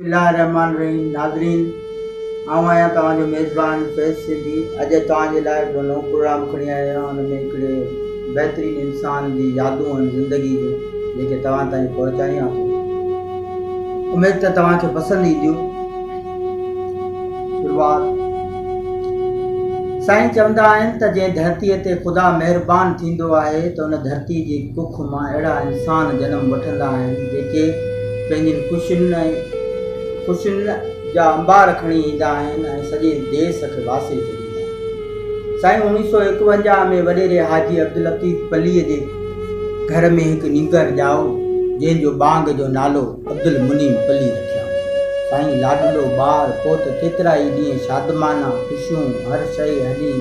بسم الله الرحمٰن الرحيم ناظرين آئون آهيان توهان جو ميزبان فيض سنڌي اڄ توهان جي لاء هڪڙو نئون پروگرام کڻي آيو آهيان ان ۾ هڪڙي بهترين انسان جي يادون ۽ زندگي جون جيڪي توهان تائين پهچايون آهن اميد ته توهان کي پسند اينديون شروعات، سائين چوندا آهن ته جنهن ڌرتيء تي خدا مهربان ٿيندو آهي ته ان ڌرتيء جي ڪک مان اهڙا انسان جنم وٺندا آهن جيڪي پنهنجين خوشين خوشين جا انبار کڻي ايندا آهن ۽ سڄي ديس کي واسي ڇڏيندا آهن. سائين اوڻيهه سؤ ايڪونجاهه ۾ وڏيري حاجي عبداللطيف پليء جي گهر ۾ هڪ نينگر ڄائو جنهن جو ٻانگ جو نالو عبدالمنعيم پلي رکيائون. سائين لاڏلو ٻار پوت ڪيترا ئي ڏينهن شادمانا، خوشيون، هر شيء هلي،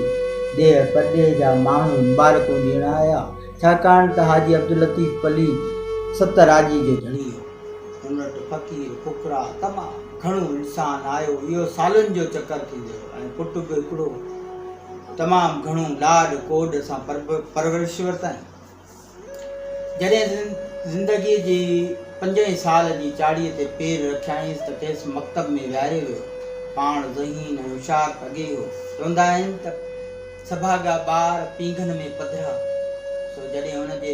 ڏيهه پرڏيهه جا ماڻهو مبارڪون ڏيڻ آيا، ڇاڪاڻ ته حاجي عبداللطيف پلي ست راڄي جو ڌڻي هو. هن وٽ فقير، فقراء تمام گهڻو انسان آيو، اهو سالن جو چڪر ٿيندو رهيو ۽ پٽ به هڪڙو تمام گهڻو لاڏ ڪوڏ سان پرورش ورتائين. جڏهن زندگيء جي پنجين سال جي چاڙهيء تي پير رکيائينس ته کيس مڪتب ۾ ويهاريو ويو. پاڻ ذهين ۽ هوشيار ته اڳي ئي هو. چوندا آهن ته سڀاڳا ٻار پينگهن ۾ پڌرا. سو جڏهن هن جي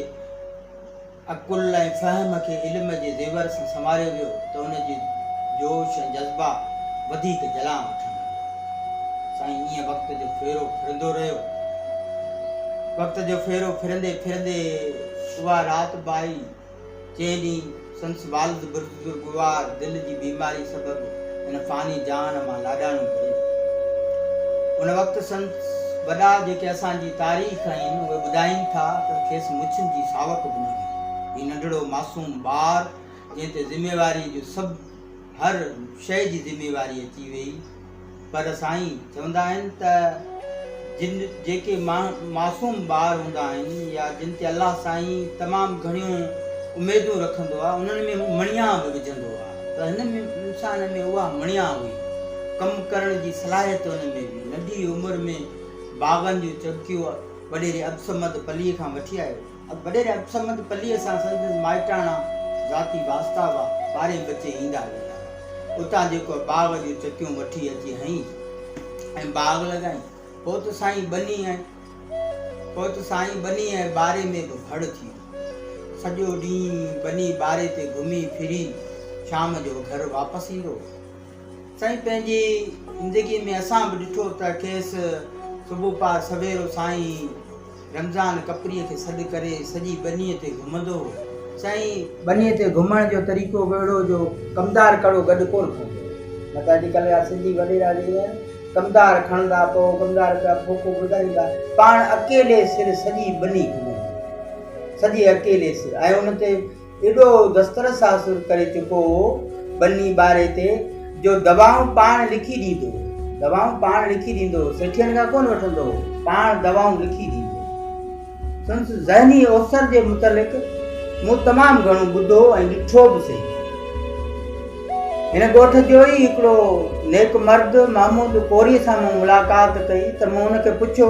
عقل ۽ فهم کي علم جي زيور سان سنواريو ويو ته هن جي جوش ۽ جذبا وڌيڪ جلان وٺڻ لڳا. سائين ائين وقت جو ڦيرو ڦرندو رهيو. وقت جو ڦيرو ڦرندي ڦرندي اها رات به آئي، جنهن ڏينهن سندس والد بزرگوار دل جي بيماري سبب هن فاني جهان مان لاڏاڻو ڪري ويو. ان وقت سندس وڏا جيڪي اسان جي تاريخ آهن، اهي ٻڌائين ٿا ته کيس مڇين جي ساوڪ به نه هئي. هي ننڍڙو معصوم ٻار، جنهن تي ذميواريء جو سڀ. هر شيء جي ذميواري اچي ويئي پر سائين چوندا آهن ته جن جيڪي معصوم ٻار هوندا آهن يا جن تي الله سائين تمام گهڻيون اميدون رکندو آهي انهن ۾ هو مڻيان به وجهندو آهي ته هن انسان ۾ اها مڻيان هئي ڪم ڪرڻ جي صلاحيت ان ۾ هئي ننڍي عمر ۾ باغن جون چگڪيون وڏيري عبدالصمد پليء کان وٺي آيو اڳ وڏيري عبدالصمد پليء سان سندس مائٽاڻا ذاتي واسطا هئا. ٻارهين بچي ايندا ويندا هئا. اتان جيڪو باغ جون چڪيون وٺي اچي هنئين ۽ باغ لڳائين. پوء ته سائين ٻني ۽ پوء ته سائين ٻني ۽ ٻاري ۾ به ڀڙ ٿي ويو. سڄو ڏينهن ٻني ٻاري تي گهمي ڦري شام جو گهر واپس ايندو هو. سائين پنهنجي زندگيء ۾ اسان به ڏٺو ته کيس صبح پار سويرو سائين رمضان ڪپريء کي سڏ ڪري سڄي ٻنيء تي گهمندو هو. چيائين. ٻنيء تي گهمڻ جو طريقو به اهڙو جو ڪمدار ڪڙو گڏ ڪونه کڻبو هو. نه ته اڄ ڪلهه جا سنڌي وڏيرا جيئن آهن، ڪمدار کڻندا، پوء ڪمدار پيا ڦوڪو ٻڌائيندا. پاڻ اڪيلي سر سڄي ٻني گهمندو هو. سڄي اڪيلي سر ۽ ان تي. ايڏو دسترس حاصل ڪري چڪو هو ٻني ٻاري تي جو دوائون پاڻ لکي ڏيندو هو. دوائون پاڻ لکي ڏيندو هو. سيٺين کان ڪونه وٺندو هو. پاڻ دوائون لکي ڏيندو هو. سندس ذهني اوسر جي متعلق مون تمام گهڻو ٻڌو ۽ ڏٺو به سهي. هن ڳوٺ جو ئي هڪڙو نيڪ مرد محمود ڪوريء سان مون ملاقات ڪئي ته مون هن کي پڇيو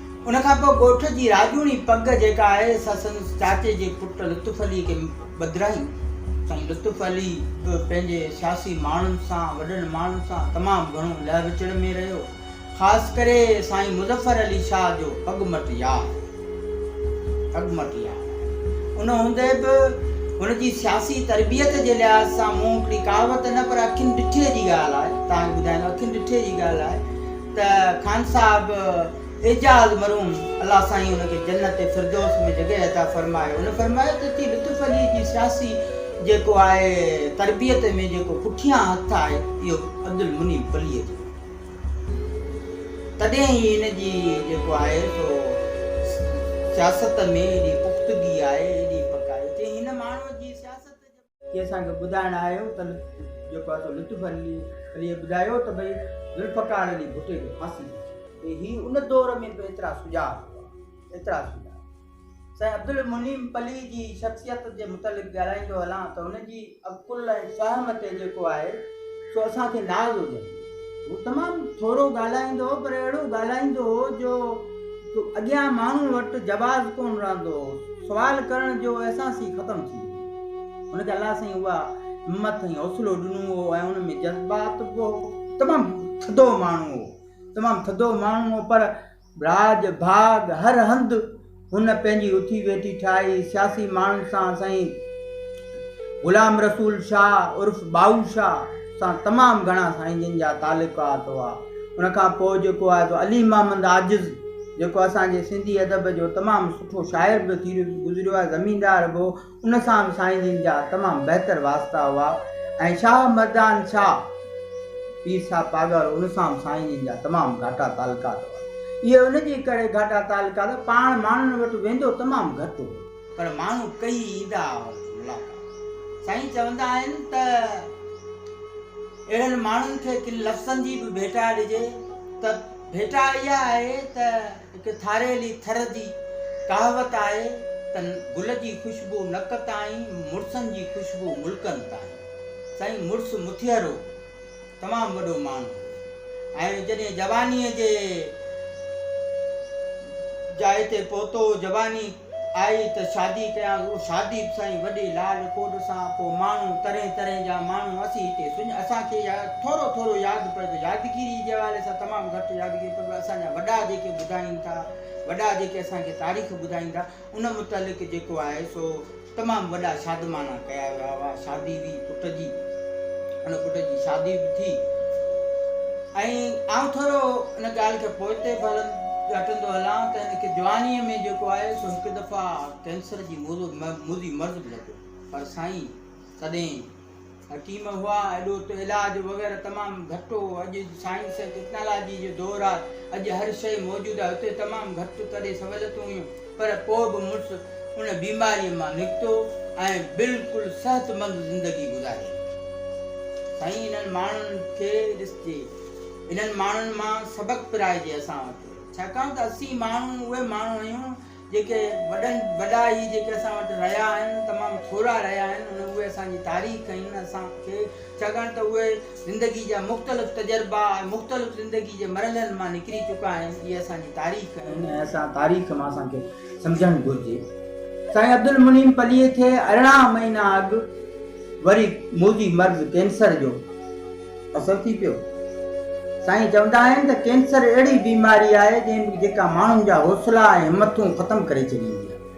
ان کان پوء ڳوٺ جي راڄوڻي پڳ جيڪا آهي سا سندس چاچي جي پٽ لطف علي کي ٻڌرايون. سائين لطف علي به پنهنجي سياسي ماڻهن سان، وڏن ماڻهن سان تمام گهڻو لهه وچڙ ۾ رهيو. خاص ڪري سائين مظفر علي شاهه جو پڳ مٽ يار پڳ مٽ يار آهي. ان هوندي به هن جي سياسي تربيت جي لحاظ سان مون هڪڙي ڪهاوت نه پر اکين ڏٺي جي ڳالهه آهي تهان کي ٻڌايان ٿو اکين ڏٺي جي ڳالهه آهي ته خان صاحب اعجاز مرحوم الله سائين ان کي جنت فردوس ۾ جڳهه عطا فرمائي ان فرمايو ته تي لطف علي جي سياسي جيڪو آهي تربيت ۾ جيڪو پٺيان هٿ آهي اهو عبدالمنيب پليء جو تڏهن ئي ان جي جيڪو آهي سو سياست ۾ ايڏي پختگي آهي ايڏي پڪ آهي چئي هن ماڻهو جي سياست ڪي اسان کي ٻڌائڻ آيو ته جيڪو آء سو لطف عليء ٻڌايو ته ڀئي ذوالفقار علي ڀٽي جو ڦاسي ٿي ٿئي. ڀئي هي ان دور ۾ به ايترا سجاع هئا، ايترا سجاع. سائين عبدالمنعيم پليء جي شخصيت جي متعلق ڳالهائيندو هلان ته هن جي عقل ۽ فهم تي جيڪو آهي سو اسان کي ناز هجندو. هو تمام ٿورو ڳالهائيندو هو پر اهڙو ڳالهائيندو هو جو اڳيان ماڻهن وٽ جواز ڪونه رهندو هو. سوال ڪرڻ جو احساس ئي ختم ٿي ويو. هن کي الله سائين اها همت ۽ حوصلو ڏنو هو ۽ هن ۾ جذبات به هو. تمام ٿڌو ماڻهو هو. تمام ٿڌو ماڻهو هو پر ٻراج، ڀاڳ، هر هنڌ هن پنهنجي اٿي ويٺي ٺاهي سياسي ماڻهن سان سائين غلام رسول شاهه عرف ٻائو شاهه سان تمام گهڻا سائين جن جا تعلقات هئا ان کان پوء جيڪو آهي سو علي محمد عاجز جيڪو اسان جي سنڌي ادب جو تمام سٺو شاعر به ٿي گذريو آهي زميندار به هو ان سان به سائين جن جا تمام بهتر واسطا هئا ۽ شاهه مردان شاهه پير صاحب پاڳارو ان سان به سائين جن جا تمام گهاٽا تعلقات هئا. اهي ان جي ڪري گهاٽا تعلقات پاڻ ماڻهن وٽ ويندو تمام گهٽ هو. پر ماڻهو ڪيئي ايندا هئا ان جي ملاقات. سائين چوندا آهن ته اهڙن ماڻهن کي ڪن لفظن جي به ڀيٽا ڏجي ته ڀيٽا اها آهي ته. هڪ ٿاريلي ٿر جي ڪهاوت آهي ته گل جي خوشبو نڪ تائين مڙسن جي خوشبو ملڪن تائين. سائين مڙس مٿيرو تمام وڏو ماڻهو هو ۽ جڏهن جوانيء جي جاء تي پهتو جواني آئي ته شادي ڪيانس اهو شادي به سائين وڏي لاڏ ڪوڏ سان پوء ماڻهو طرحين طرحين جا ماڻهو اسين هتي سڃ اسان کي يا ٿورو ٿورو ياد پئي ٿو يادگيري جي حوالي سان تمام گهٽ يادگيري پر اسان جا وڏا جيڪي ٻڌائين ٿا وڏا جيڪي اسان کي تاريخ ٻڌائين ٿا ان متعلق جيڪو آهي سو تمام وڏا شادماڻا ڪيا ويا هئا شادي بي پٽ جي ان پٽ جي شادي به ٿي ۽ آئون ٿورو ان ڳالهه کي پوئتي به هلن ڳاٽندو هلان ته هن کي جوانيء ۾ جيڪو آهي سو هڪ دفعا ڪينسر جي موضوع موضي مرض به لڳو پر سائين تڏهن حڪيم هئا ايڏو ته علاج وغيره تمام گهٽ هو اڄ سائنس ۽ ٽيڪنالاجي جو دور آهي اڄ هر شيء موجود آهي اتي تمام گهٽ تڏهن سهولتون هيون پر پوء به مڙس ان بيماريء مان نڪتو ۽ بلڪل صحتمند زندگي گذاري. سائين انهن ماڻهن کي ڏسجي. انهن ماڻهن مان سبق پرائجي اسان وٽ. ڇاڪاڻ ته اسين ماڻهو اهي ماڻهو آهيون جيڪي وڏن وڏا هي جيڪي اسان وٽ رهيا آهن تمام ٿورا رهيا آهن ان اهي اسان جي تاريخ آهن اسان کي ڇاڪاڻ ته اهي زندگي جا مختلف تجربا ۽ مختلف زندگي جي مرحلن مان نڪري چڪا آهن اهي اسان جي تاريخ آهن ۽ اسان تاريخ مان اسان کي سمجهڻ گهرجي سائين عبدالمنعيم پليء کي ارڙهن مهينا اڳ وري موذي مرض ڪينسر جو اثر ٿي پيو سائين چوندا آهن ته ڪينسر اهڙي بيماري آهي جيڪا ماڻهن جا حوصلا ۽ همٿون ختم ڪري ڇڏيندي آهي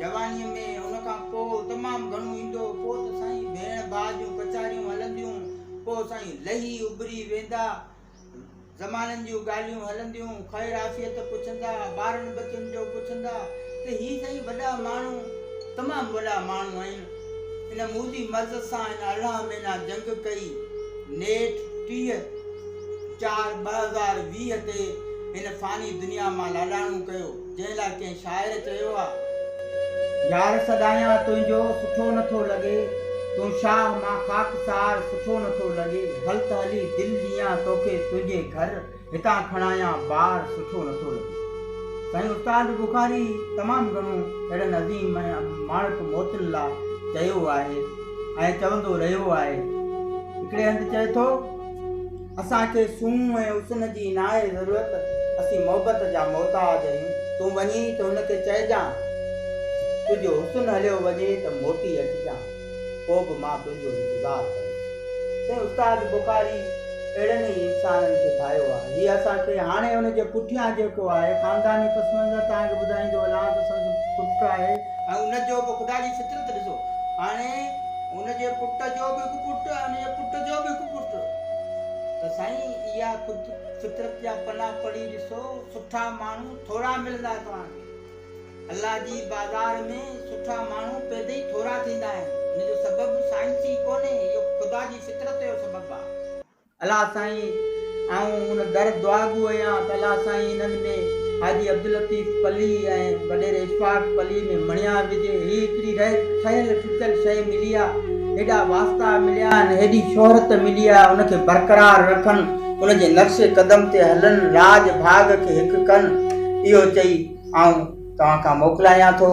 جوانيء ۾ ان کان پوء تمام گهڻو ايندو هو، پوء ته سائين ڀيڻ ڀاء جون ڪچهريون هلنديون، پوء سائين لهي اڀري ويندا، زمانن جون ڳالهيون هلنديون، خير عافيت پڇندا، ٻارن ٻچن جو پڇندا ته هي سائين وڏا ماڻهو تمام وڏا ماڻهو آهن، ان موذي مرض سان هن ارڙهن مهينا جنگ ڪئي، نيٺ ٽيهه چار ٻه هزار ويهه تي هن فاني دنيا مان لاڏاڻو ڪيو. جنهن لاء ڪنهن شاعر چيو آ. يار سڏايان تنهنجو سٺو نه ٿو لڳي تون شاهه مان خاڪسار سٺو نه ٿو لڳي هل ته هلي دل ڏيان توکي تنهنجي گهر هتان کڻايان بار سٺو نه ٿو لڳي سائين استاد بخاري تمام گهڻو اهڙن عظيم ۽ ماڻڪ موتن لا چيو آهي ۽ چوندو رهيو آهي هڪڙي هنڌ چئي ٿو. اسان کي سونهن ۽ حسن جي ناهي ضرورت، اسين محبت جا محتاج آهيون. تون وڃي ته هن کي چئجان تنهنجو حسن هليو وڃي ته موٽي اچجان، پوء به مان تنهنجو انتظار ڪندس. سائين استاد بخاري اهڙن ئي انسانن کي ڀانئيو آهي. هي اسان کي هاڻي ان جي پٺيان جيڪو آهي خانداني پس منظر توهان کي ٻڌائيندو هلان ته سندس پٽ آهي. ۽ ان جو به خدا جي فطرت ڏسو هاڻي ان جي پٽ جو به هڪ پٽ ۽ ان جي پٽ جو به هڪ پٽ. ته سائين اها خود فطرت جا پنا پڙهي ڏسو سٺا ماڻهو ٿورا ملندا توهان کي الله جي بازار ۾ سٺا ماڻهو پيدا ئي ٿورا ٿيندا آهن ان جو سبب سائنسي ڪونهي اهو خدا جي فطرت جو سبب آهي. الله سائين آئون ان در دعاگو اهيان ته الله سائين انهن ۾ حاجي عبداللطيف پلي ۽ وڏيري اشفاق پلي ۾ مڻيا وجهي هي هڪڙي رهي ٺهيل ٺڪيل شيء ملي آ، هيڏا واسطا مليا آهن، هيڏي شهرت ملي آ، ان کي برقرار رکن، ان جي نقش قدم تي هلن، راڄ ڀاڳ کي هڪ ڪن، اهو چئي آئون توهان کان موڪلايان ٿو.